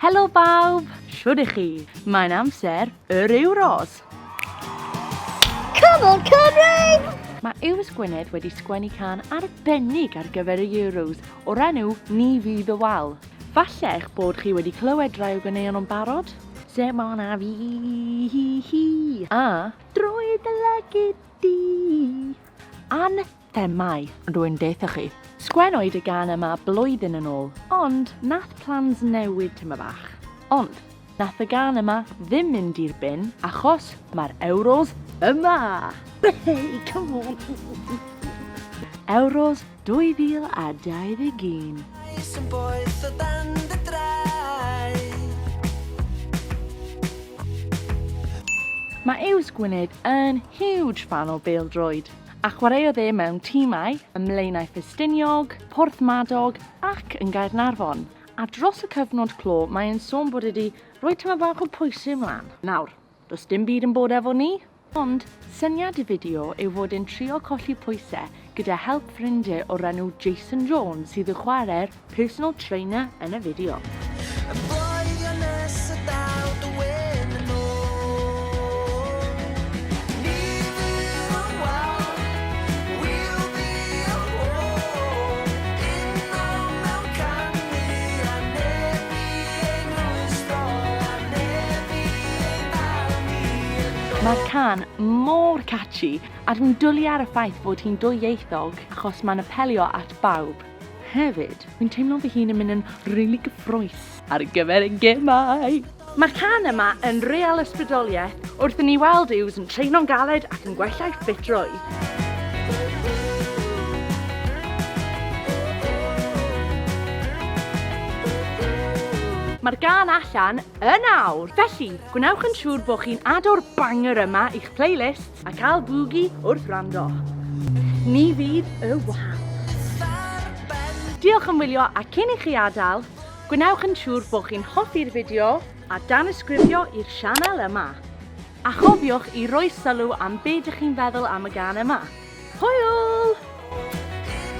Helo bawb! Shwd i chi? Mae'n amser yr Euros! Come on, Cymru! Mae Iws Gwynedd wedi sgwennu can arbennig ar gyfer y Euros o'r enw Ni Fydd y Wal. Falle eich bod chi wedi clywed rai o ganeuon o'n barod? Semon a fi hi hi a Drwy dy lygid di An Er mai, rwy'n deutha chi, sgwennwyd y gan yma blwyddyn yn ôl, ond nath plans newid tyma bach. Ond, nath y gan yma ddim mynd i'r bin, achos mae'r Euros yma! Hey, come on! Euros 2021. Bois yn boeth o dan dy draed. Mae Yws Gwynedd yn huge fan o bêl-droed. a chwaraeodd e mewn timau ym Mlaenau Ffestiniog, Porthmadog ac yn Gaernarfon, a dros y cyfnod clo mae e'n sôn bod e 'di rhoi tamaid bach o pwysau ymlaen. Nawr, does dim byd yn bod efo ni, ond syniad y fideo yw fod e'n trio colli pwysau gyda help ffrindie o'r enw Jason Jones sydd yn chwarae'r personal trainer yn y fideo. Mae'r cân mor catchy, a'r un dwli ar y ffaith fod hi'n dwyieithog achos mae'n apelio at bawb. Hefyd, fi'n teimlo fy hun yn mynd yn rili gyffroes ar gyfer y gemau! Mae'r can yma yn real ysbrydoliaeth wrth i ni weld yws yn treino'n galed ac yn gwella'i ffitrwydd. Mae'r gan allan yn awr! Felly, gwnewch yn siŵr bod chi'n ado'r banger yma i'ch playlist A cael bwgi wrth wrando. Ni fydd y wahân. Diolch am wylio a cyn i chi adael, gwnewch yn siŵr bod chi'n hoffi'r fideo a danysgrifio i'r sianel yma. A chofiwch i roi sylw am be dych chi'n feddwl am y gân yma. Hwyl!